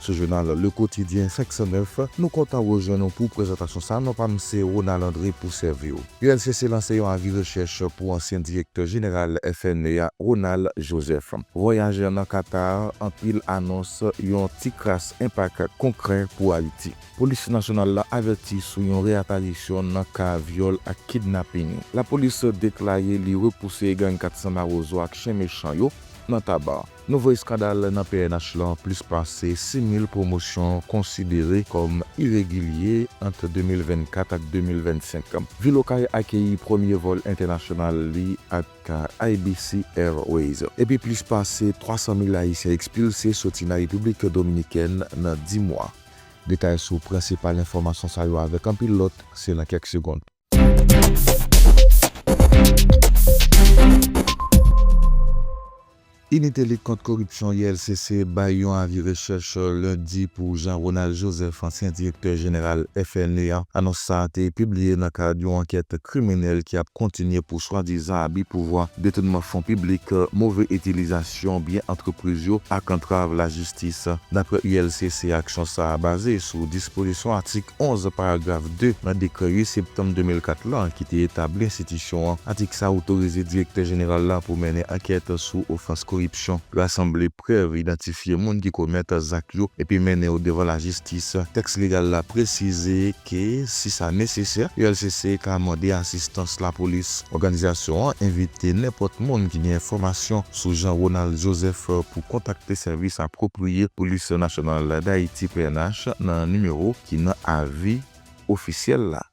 sou jounal Le Quotidien 509, nou kontan rejwenn ou pou prezantasyon sa, non pa m se Ronald André pou sèvi w. ULCC lanse yon avi rechèch pou ansyen direktè jeneral FNE a Ronald Joseph. Vwayaj nan Qatar, anpil anons, yon ti kras enpak konkrè pou Ayiti. Polis nasyonal la avèti sou yon reaparisyon nan ka vyòl ak kidnaping. Lapolis deklare li repouse gang 400 mawozo ak chen mechan yo nan Taba. Nouvo eskandal nan pnh lan, plis pase 6,000 pwomosyon konsidere kòm iregilye ant 2024 ak 2025. Vil Okay akeyi premye vòl entènasyonal li ak IBC Airways, epi plis pase 300 mil ayisyen ekspilse soti nan Repiblik Dominikèn nan 10 mwa. Detay sou prensipal enfòmasyon sa yo avèk anpil lòt se nan kèk segond. Inite lit kont koripsyon, ILCC, bay yon avi rechèch lendi pou Jean Ronald Joseph, ansyen direktè jeneral FNE a. Anons sa a te pibliye nan kad yon ankèt kriminèl ki ap kontinye pou swadizan abi pouvwa, detounman fon piblik, move itilizasyon. jesyon byen antrepriz yo ak antrav lajistis. Daprè ULCC, aksyon sa a baze sou dispozisyon atik 11, paragraf 2, nan dekrè 8 septanm 2004 lan ki te etabli enstitisyon an. Atik sa a otorize Direktè Jeneral la pou mennen ankèt sou ofans koripsyon, rasanble prèv, idantifye moun ki komèt zak yo epi mennen yo devan lajistis. Tèks legal la presize ke, si sa nesesè, ULCC ka mande asistans lapolis. Òganizasyon an envite nenpòt moun ki gen enfòmasyon sou Jean Ronald Joseph pou kontakte Sèvis Apwopriye Polis Nasyonal Dayiti, pnh, nan nimewo ki nan avi ofisyèl la.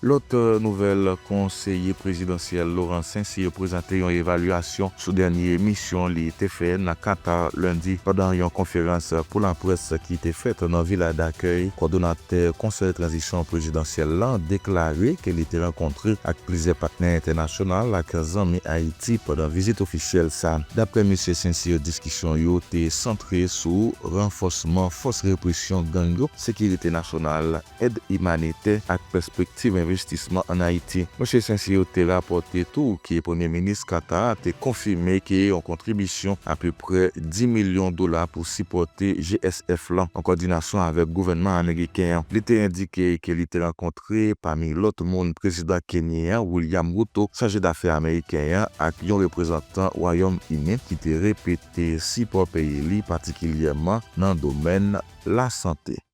Lòt nouvèl, konseye prezidansyèl Laurent Saint-Cyr prezante yon evalyasyon sou dènye misyon li te fè nan Qatar lendi pandan yon konferans pou laprès ki te fèt nan vila dakèy kòdonatè konsèy tranzisyon prezidansyèl la deklare ke li te rankontre ak plizyè patnè entènasyonal ak zanmi Ayiti pandan vizit ofisyèl sa. Daprè Misye Saint-Cyr diskisyon yo te santre sou ranfòsman fòs represyon gang yo, sekirite nasyonal, èd imanitè ak pèspektiv envestisman ann Ayiti. Msye St-Cyr te rapòte tou ke Premye Minis Qatar a te konfime ke yon kontribisyon apeprè 10 milyon dola pou sipòte GSF lan, an kòdinasyon avèk gouvènman ameriken an. Li te endike ke li te rankontre, pami lòt moun, Prezidan Kenyen an, William Ruto, Chaje Dafè ameriken an ak yon reprezantan Wayòm Ini ki te repete sipò peyi li patikilyèman nan domèn lasante.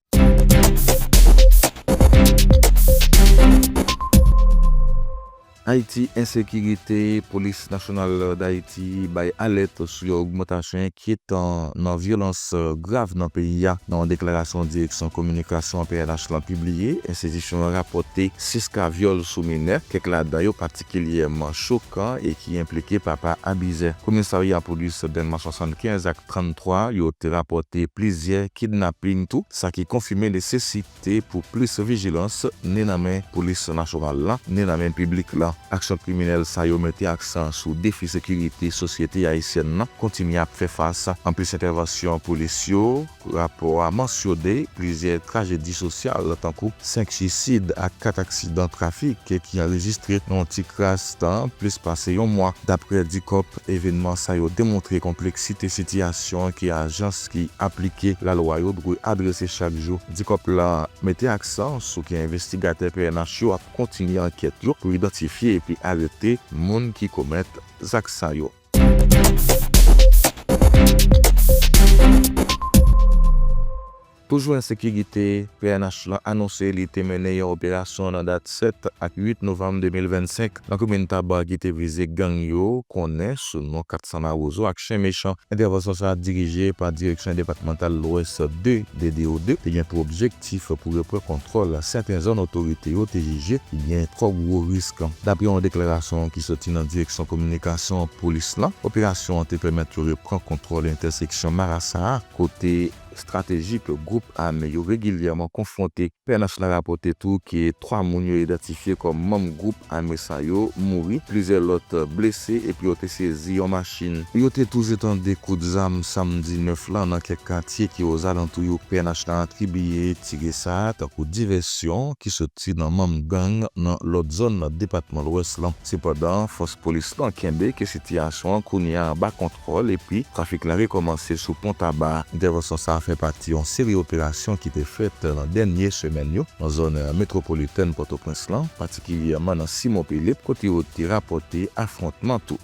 Ayiti Ensekirite, Polis Nasyonal Dayiti bay alèt sou yon ogmantasyon enkyetan nan vyolans grav nan peyi a. Nan yon deklarasyon Direksyon Kominikasyon pnh lan pibliye, enstitisyon an rapòte 6 ka vyòl sou minè, kèk ladan yo patikilyèman chokan e ki enplike papa abizè. Komisarya Polis Dèlma 75 ak. 33, yo te rapòte plizyè kidnaping tou, sa ki konfime nesesite pou plis vijilans, ni nan men polis nasyonal la, ni nan men piblik la. Aksyon kriminèl sa yo mete aksan sou defi sekirite sosyete ayisyèn nan kontinye ap fè fas. Anplis entèvansyon polis yo, rapò a mansyone plizyè trajedi sosyal tankou 5 suisid ak 4 aksidan trafik ki anrejistre nan yon ti kras tan plis pase yon mwa. Daprè Dicop, evenman sa yo demontre konpleksite sitiyasyon ke ajans ki aplike lalwa yo dwe adrese chak jou. Dicop la mete aksan sou ke envestigatè pnh yo ap kontinye ankèt yo pou idantifye epi arete moun ki komèt zak sa yo. Pou jwenn sekirite, pnh lan anonse li te mennen yon operasyon nan dat 7 ak 8 novanm 2025 nan komin Taba ki te vize gang yo konnen sou non 400 Mawozo ak Chen Mechan. Entèvansyon sa a dirije pa Direksyon Depatmantal Lwès 2, DDO 2, te gen pou objektif pou repran kontwòl sèten zòn otorite yo te jije ki gen twò gwo risk. Dapre yon deklarasyon ki soti nan Direksyon Kominikasyon Polis lan, operasyon an te pèmèt yo repran kontwòl entèseksyon Marasa a kote estrateji ke gwoup ame yo regilyèman konfwonte. Pnh la rapòte tou ke 3 moun yo idantifye kòm manm gwoup ame sa yo mouri, plizyè lòt blese epi yo te sezi yon machin. Yo te toujou tande kout zam samdi 9 lan nan kèk katye ki ozalantou yo. Pnh la atribiye tire sa a tankou divèsyon ki sot soti nan manm gang nan lòt zòn nan depatman Lwès lan. Sepandan, fòs polis lan kenbe ke sitiyasyon an kounye a anba kontwòl epi trafik la rekòmanse sou pon Taba. Entèvansyon sa a fè pati yon seri operasyon ki te fèt nan dènye semèn yo nan zòn metwopolitèn Pòtoprens lan, patikilyèman nan Simon Philippe, kote yo te rapòte afwontman tou.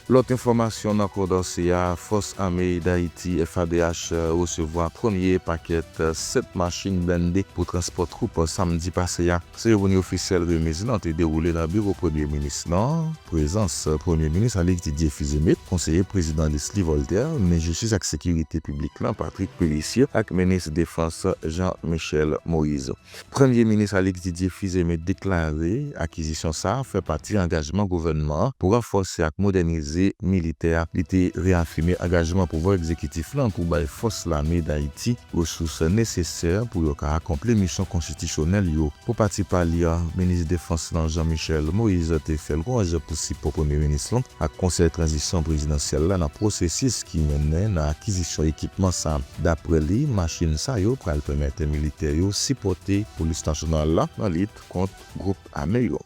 Lòt enfòmasyon nan kondanse a, Fòs Ame Dayiti, FADH, resevwa premye pakèt 7 machin blende pou transpò twoup samdi pase a. Seremoni ofisyèl remiz lan te dewoule nan biwo premye minis lan, prezans premye minis Alix Didier Fils-Aimé, konseye prezidan Leslie Voltaire, minis jistis ak sekirite piblik lan Patrick Pélissier ak minis defans Jean Michel Moïse. Premye Minis Alix Didier Fils-Aimé deklare akizisyon sa a fè pati angajman gouvènman an pou ranfòse ak modènize militè a. Li te reyafime angajman pouvwa egzekitif lan pou bay fòs lame Dayiti resous nesesè pou yo ka akonpli misyon konstitisyonèl yo. Pou pati pa li a, Minis Defans lan Jean Michel Moise te fè lwanj pou sipò Premye Minis lan ak Konsèy Tranzisyon Prezidansyèl la nan pwosesis ki mennen nan akizisyon ekipman sa. Daprè li, machin sa yo pral pèmète militè yo sipòte polis nasyonal la nan lit kont gwoup ame yo.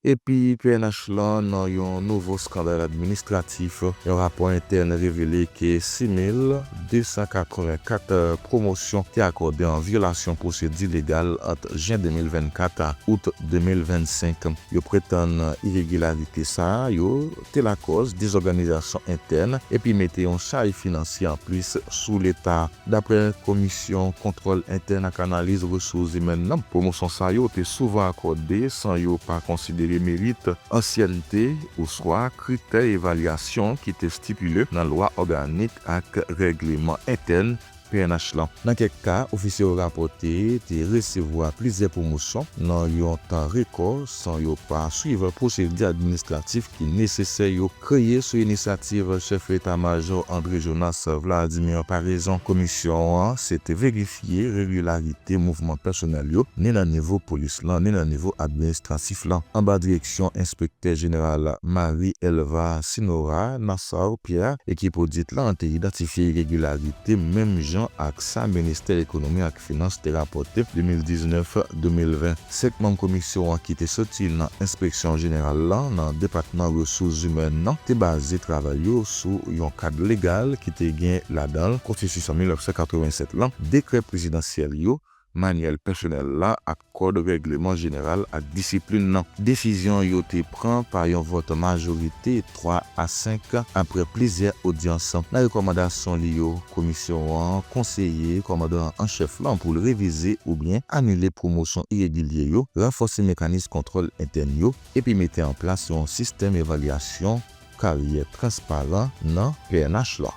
Epi pnh lan nan yon nouvo skandal administratif, yon rapò entèn revele ke 6 mil. 284 pwomosyon te akòde an vyolasyon pwosedi legal ant jen 2024 a out 2025. Yo pretann iregilarite sa yo te lakòz dezòganizasyon entèn epi mete yon chaj finansye anplis sou leta. Daprè Komisyon Kontwòl Entèn ak Analiz Resous Zimèn nan, pwomosyon sa yo te souvan akòde san yo pa konsidere merit, ansyènte oswa kritè evalyasyon ki te stipile nan lwa òganik ak règleman entèn pnh lan. Nan kèk ka, ofisye yo rapòte te resevwa plizyè pwomosyon nan yon tan rekò san yo pa swiv pwosedi administratif ki nesesè yo kreye sou inisyativ Chèf Eta Majò André Jonas Vladimir Paraison. Komisyon an se te verifye regilarite mouvman pèsonèl yo ni nan nivo polis lan ni nan nivo administratif lan anba direksyon. direksyon enspektè jeneral Marie Elva Sinora Nassau Pierre, ekip odit lan te idantifye iregilarite menm jan ak sa ministè ekonomi ak finans te rapòte 2019-2020. Senk manm komisyon an ki te soti nan enspeksyon jeneral lan nan depatman resous zimèn nan te baze travay yo sou yon kad legal ki te gen ladan l Konstitisyon 1987 lan, dekrè prezidansyèl yo, Manyèl pèsonèl la ak Kòd Règleman Jeneral ak Disiplin nan. Desizyon yo te pran pa yon vòt majorite 3 a 5 apre plizyè odyans. Nan rekòmandasyon li yo, Komisyon an konseye Kòmandan an Chèf lan pou l revize oubyen anile pwomosyon iregilye yo, ranfòse mekanis kontwòl entèn yo, epi mete an plas yon sistèm evalyasyon, karyè transparan nan pnh lan.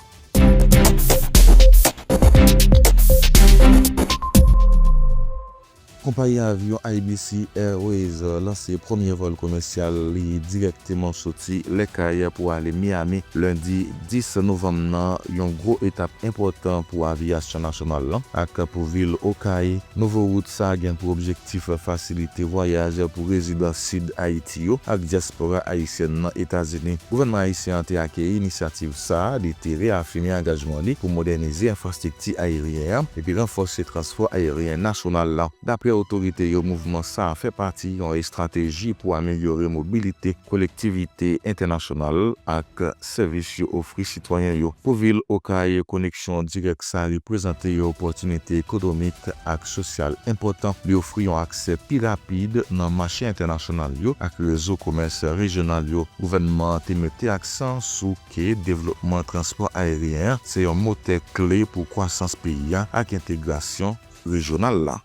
Konpayi avyon IBC Airways lanse premye vòl komèsyal li dirèkteman soti Les Cayes pou ale Miami lendi 10 novanm nan, yon gwo etap enpòtan pou aviyasyon nasyonal lan ak pou vil Okay. Nouvo wout sa gen pou objektif. Ti frè fasilite vwayaj pou rezidan Sid Ayiti yo ak dyaspora ayisyèn nan Etazini. Gouvènman ayisyen an te akeyi inisyativ sa a, li te reyafime angajman li pou modènize enfrastrikti ayeryen an epi ranfòse transpò ayeryen nasyonal la. Dapre otorite yo, mouvman sa a fè pati yon estrateji pou amelyore mobilite kolektivite entènasyonal ak. sèvis yo ofri sitwayen yo. Pou vil Okay, koneksyon dirèk sa reprezante yon opòtinite ekonomik ak sosyal enpòtan. Li ofri yon aksè pi rapid nan mache entènasyonal yo ak rezo komès rejyonal yo. Gouvènman an te mete aksan sou ke devlopman transpò ayeryen an se yon motè kle pou kwasans peyi a ak entegrasyon rejyonal la.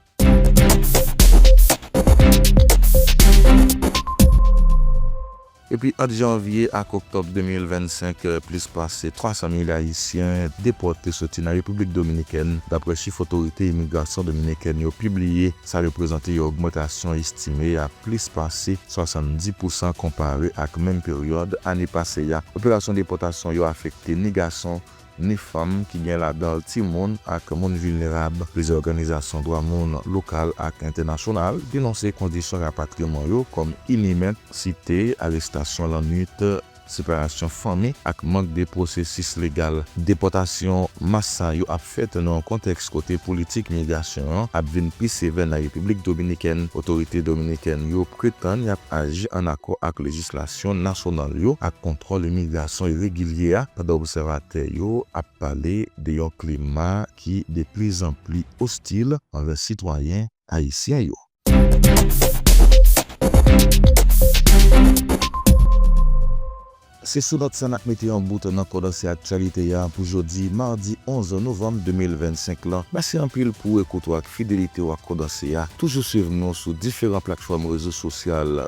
Epi ant janvye ak oktòb 2025, plis pase 300 mil ayisyen depòte soti nan Repiblik Dominikèn, dapre chif otorite imigrasyon dominikèn yo pibliye. Sa reprezante yon ogmantasyon estime a plis pase 70 pousan konpare ak menm peryòd ane pase a. Operasyon depòtasyon yo afekte ni gason ni fanm ki gen ladan l timoun ak moun vilnerab. Plizyè òganizasyon dwa moun lokal ak entènasyonal denonse kondisyon rapatriman yo kòm inimen, site, arestasyon lannwit, separasyon fanmi ak mank de pwosesis legal. Depòtasyon mas sa yo ap fèt nan yon kontèks kote politik migrasyon an ap vin pi sevè nan Repiblik Dominikèn. Otorite dominikèn yo pretann y ap aji an akò ak lejislasyon. eleksyon nasyonal yo ak kontwòl imigrasyon iregilye a pandan obsèvatè yo ap pale de yon klima ki de pli zan pli ostil anvè sitwayen ayisyen yo. Se sou nòt sa n ap mete yon bout nan kondanse aktyalite a pou jodi madi 11 novanm 2025 lan. Mèsi anpil pou ekout ou ak fidelite w ak kondanse a. Toujou swiv nou sou diferan platfòm rezo sosyal